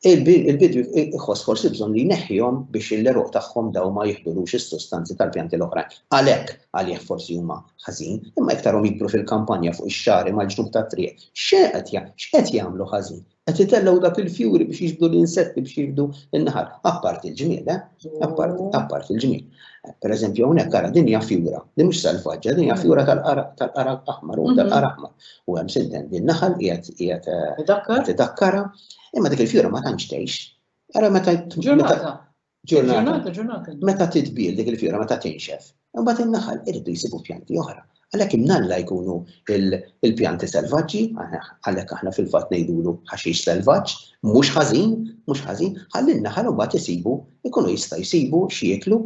il-bidwi iħoss forsi bżonn li jneħħihom biex il-leruq tagħhom daw ma jihdulux is-sustanzi tal-pjanti l-oħrajn. Għalhekk għalih forsi huma ħażin, imma iktarhom jikbru fil-kampanja fuq ix-xagħri mal-ġnub tat-triq, x'qed jagħmlu ħażin? Qed itellgħu dak il-fjuri biex jiġbdu l-insetti biex jiġbdu n-naħal, apparti l-ġmiel, eh? Apparti l-ġmiel. Pereżempju hawnhekk ara din hija fjura, din mhux salvaġġa, din hija fjura tal-qara aħmar u tal-qara aħmar. U hemm sinten din naħal qiegħed qiegħed eh, tidakkarha, imma dik il-fjura ma tantx tgħix. Ara meta ġurnata Ġurnata, ġurnata. Meta titbil dik il-fjora, meta tinxef, imbagħad in-naħal irridu jsibu pjanti oħra. Għalhekk imnalla jkunu il-pjanti selvaġġi, għalhekk aħna fil-fatt ngħidulu ħaxix selvaġġ, mhux ħażin, mhux ħażin, ħalli n-naħal imbagħad isibu, ikunu jista' jsibu x'jieklu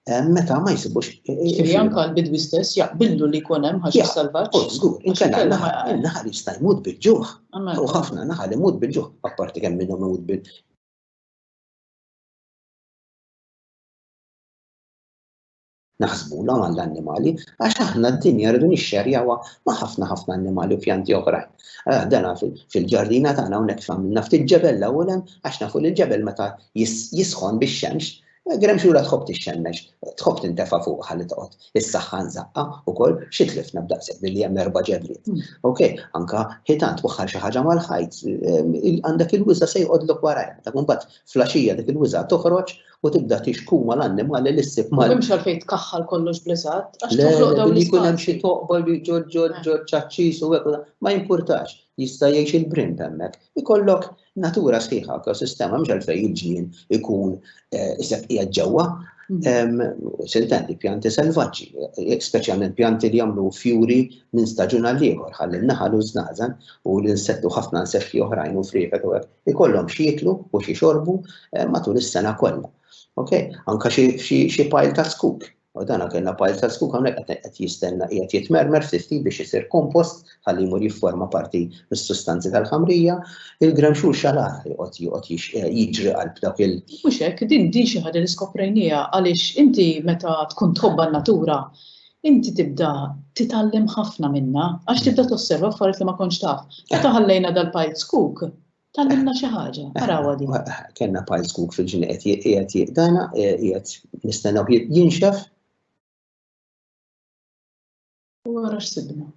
eh, meta ma jsibux. Ġifieri anke l-bidwi stess jaqbillu li jkun hemm ħaxix selvaġġ. Oh, żgur, inkella n-naħal jista' jmut bil-ġuħ. U ħafna naħal imut bil-ġuħ, apparti kemm minnhom imut bil naħsbula għall-annimali, għax aħna d-dinja rridu nixxerjawa ma' ħafna ħafna annimali u pjanti oħrajn. Eh, dana fil-ġardina tagħna hawnhekk f'għamilna ftit ġebel l-ewwel hemm għax nafu li l-ġebel meta jisħon bix-xemx eh, Grem xura tħobb tixxemmex, tħobb tintefa fuq ħalli toqgħod. Is-saħħa nżaqqa wkoll xi tlifna b'daqshekk billi hemm erba' ġebliet. Hmm. Ok, anka ħitan twaħħal xi ħaġa mal-ħajt, eh, għandek il-wiża se jqodlok warajha, ta' mbagħad Fl-għaxija dik il-wiżgħa toħroġ u tibda tixku mal-annimali li ssib mal. M'hemmx għalfejn tkaħħal kollox bl-eżatt għax toħloq dawn l-ispazji. Jkun hemm xi toqba li ġo ġo ġo ċaċċis u hekk ma jimpurtax. Jista' jgħix il-brimp hemmhekk. Ikollok natura sħiħa ekosistema mhux għalfejn il-ġnien ikun isek qiegħed ġewwa. Siltendi pjanti selvaġġi, speċjalment pjanti li jagħmlu fjuri minn staġun għal ieħor ħalli n-naħal u ż-żnażen u l-insettu ħafna insetti oħrajn u friegħet u hekk Ikollhom x'jieklu u x'ixorbu eh, matul is-sena kollha. Okay? Anka xi pajl ta' skuk U dan kellna pajl ta' skuk hawnhekk qed jistenna qiegħed jitmermer ftit biex isir kompost ħalli jmur jifforma parti mis-sustanzi tal-ħamrija, il-gremxur xalar joqgħod joqgħod eh, jiġri qalb dak il. Mhux hekk, din din xi ħaġa li skoprejniha għaliex inti meta tkun tħobba n-natura Inti tibda titgħallem ħafna minnha għax tibda tosserva affarijiet li ma kontx taf. Meta ħallejna dal-piles cook, Tallimna xi ħaġa, arawa din. Kenna pajs kuk fil-ġini qiegħed jiqdana, qiegħed nistennew jinxef. U għara x'sibna.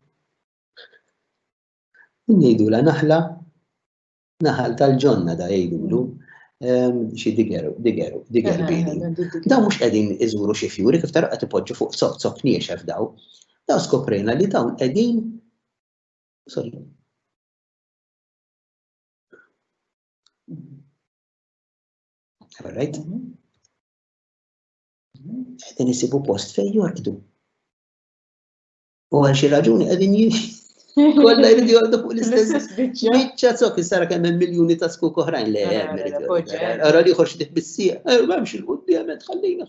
Ngħidu la naħla Naħal tal-ġonna da jgħidulu ehm, xi digeru, digeru, digeru eh, bini. Eh, eh, daw mhux qegħdin iżuru xi fjuri kif tara qed ipoġġu fuq sot sot niexef daw. Daw skoprejna li dawn qegħdin sorry. All right? Mhm. Qegħdin isibu post fejn jorqdu. U għal xi raġuni qegħdin Kolla jridu jgħoddu fuq l-istess biċċa zok, jistara kemm hemm miljuni ta' skuk oħrajn li hemm. Ara li jħorx dik bissieq, eh, m'hemmx il-qudiem qed ħallina.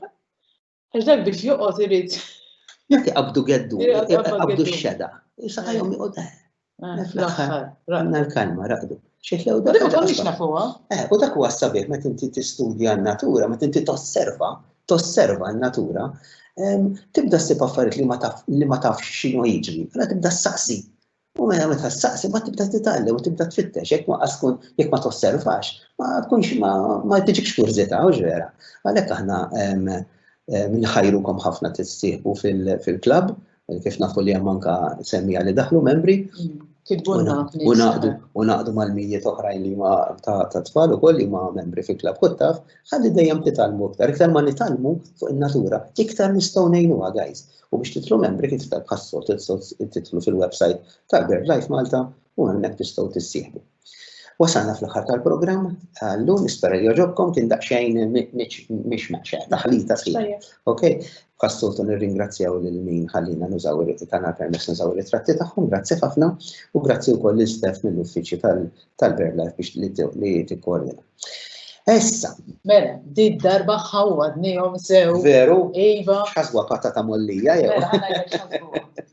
Għax dak biex joqgħod irid. Jekk qabdu geddu, qabdu x-xeda. Saqajhom joqgħod. Eh. Eh, fl-aħħar, għandna l-kalma, raqdu. Xitlew dak. Ma konniex nafuha. Eh, u dak huwa sabiħ meta inti tistudja n-natura, meta inti tosserva, tosserva n-natura, tibda ssib affarijiet li ma tafx x'inhu jiġri, għala tibda saqsi. U mela meta saqsi ma tibda titgħallem u tibda tfittex, jekk ma tkun jekk ma tosservax, ma tkunx ma tiġikx kurżità u ġvera. Għalhekk aħna nħajrukom ħafna tissieħbu fil-klabb kif nafu li hemm anka semmija li daħlu membri. U naqdu mal-mijiet oħrajn li ma ta' tfal ukoll li ma membri fi klab kuttaf, ħalli dejjem titgħallmu iktar, iktar ma nitgħallmu fuq in-natura, iktar nistgħu ngħinuha guys. U biex titlu membri kif tal-ħassot titlu fil-website tal-BirdLife Malta u hemmhekk tistgħu tissieħbu. Wasalna fl-aħħar tal-programm, llum nispera li joġobkom kien daqsxejn mhix meċċa, taħlita sħiħ. Ok, passoltu nirringrazzjaw lil min ħallina nużaw tagħna permess nużaw ritratti tagħhom, grazzi ħafna u grazzi wkoll lil Stef mill-uffiċċju tal-Berla biex li tikkoordina. Issa. Mela, di darba ħawadni jom sew. Veru? Iva. Xaswa patata mollija jew. Mela,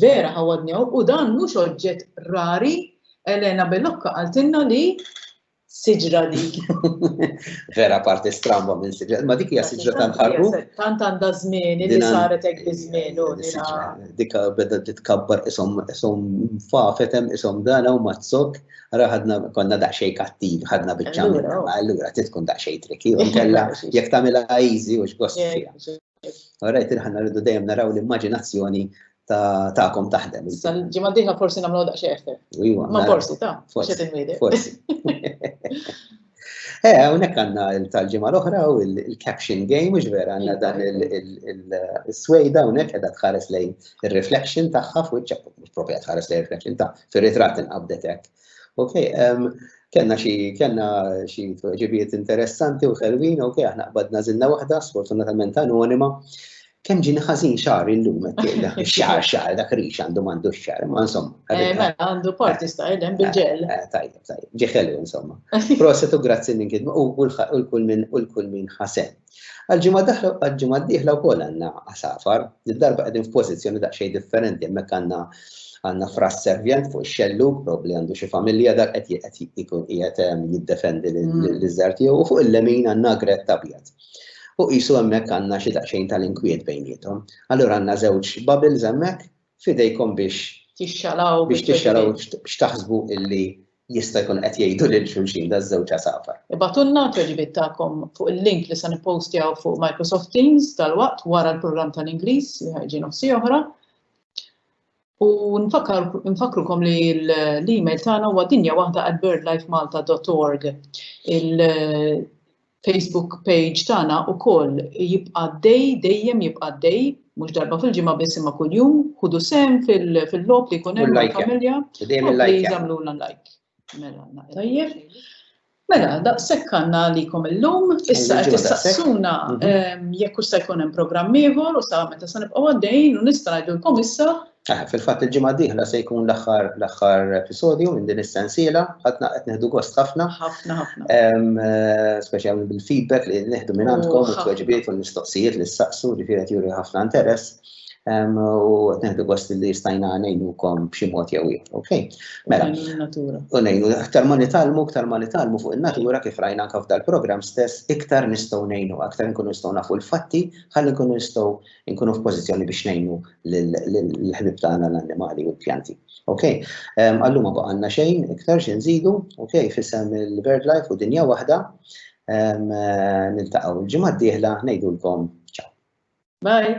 Vera ħawadni hawn u dan mhux oġġett rari, Elena Bellocca qaltilna li siġra dik. Vera parti stramba minn siġra, ma dik hija siġra tant ħarbu. Tant għandha żmien li saret hekk biż-żmien u Dik beda titkabbar isom isom fafetem isom dana u mazzok, ara ħadna konna daqsxejn kattiv, ħadna biċċa allura trid tkun daqsxejn triki u nkella jekk tagħmilha easy u x'gost fiha. Alright, il-ħanna rridu dejjem naraw l-immaġinazzjoni ta'kom taħdem. Issa l-ġimgħa diħla forsi nagħmlu daqsxejn effett. Iva. Ma forsi ta' forsi tinwiedi. Forsi. Eh, hawnhekk għandna tal-ġimgħa l-oħra u l-caption game mhux vera għandna dan il-swejda hawnhekk qiegħda tħares lejn ir-reflection tagħha fuq iċ-ċappu, mhux propja tħares lejn reflection ta' fir-ritratt inqabdet hekk. Ok, um, kena xi kena xi ġibiet interessanti u ħelwin, ok, aħna qbadna zinna waħda, sfortunatament anonima. Kemm ġini ħażin xar illum qed xar xar dak rix għandu m'għandu xar, ma insomma. Eh, mela għandu parti sta hemm eh, bil-ġel. Eh, tajjeb, tajjeb, ġi ħelu insomma. Proset u grazzi minn kidma u l-kull minn u l-kull minn ħasen. Għal-ġimgħa d-dieħla wkoll għandna għasafar, darba qegħdin f'pożizzjoni daqsxejn differenti hemmhekk għandna għandna fras servjent fuq ix-xellu, probabbli għandu xi familja dak qed qed ikun qiegħed ehm, jiddefendi l-iżżar tiegħu u fuq il-lemin għandna gret abjad. U qisu hemmhekk għandna xi daqsxejn tal-inkwiet bejniethom. Allura għandna żewġ bubbles hemmhekk f'idejkom biex Tixxalgħu biex tixxalgħu x'taħsbu illi jista' jkun qed jgħidu lil xulxin daż-żewġ għasafar. Ibgħatulna t-tweġibiet tagħkom fuq il-link li se nippostjaw fuq Microsoft Teams dalwaqt wara l-programm tal-Ingliż li ħa jġi nofsi oħra. U nfakkrukom li l-email tagħna huwa dinjawahda@birdlifemalta.org. Facebook page tagħna ukoll jibqa' għaddej, dejjem jibqa' għaddej, mhux darba fil-ġimgħa biss imma kuljum, ħudu sehem fil-logħob li jkun hemm familja. Dejjem il-like. Jagħmlulna like. Mela, tajjeb. Mela, daqshekk għandna għalikom illum, issa qed tistaqsuna mhm. ehm, jekk se jkun hemm programm ieħor u sa meta se nibqgħu għaddejn u nista' ngħidulkom issa Ah, fil-fatt il-ġimgħa d-dieħla se jkun l-aħħar l-aħħar episodju minn din is-sensiela, ħadna qed neħdu gost ħafna. Ħafna ħafna. Eh, speċjalment bil-feedback li neħdu minn għandkom u t-tweġibiet u l-mistoqsijiet li s-saqsu li firet juri ħafna interess. U qed neħdu gost li stajna ngħinukom b'xi mod jew ieħor. Okej. Mela. U ngħinu aktar ma nitalmu, aktar ma nitalmu fuq in-natura kif rajna anke f'dal-programm stess, iktar nistgħu ngħinu, aktar nkunu nistgħu nafu l-fatti, ħalli nkunu nistgħu inkunu f'pożizzjoni biex ngħinu l-ħbib tagħna l-annimali u l-pjanti. Ok, ehm, għalluma baqa' għandna xejn iktar xi nżidu, ok, fissem il-BirdLife u dinja waħda, ehm, eh, niltaqgħu l-ġimgħa d-dieħla ngħidulkom ċaw. Bye.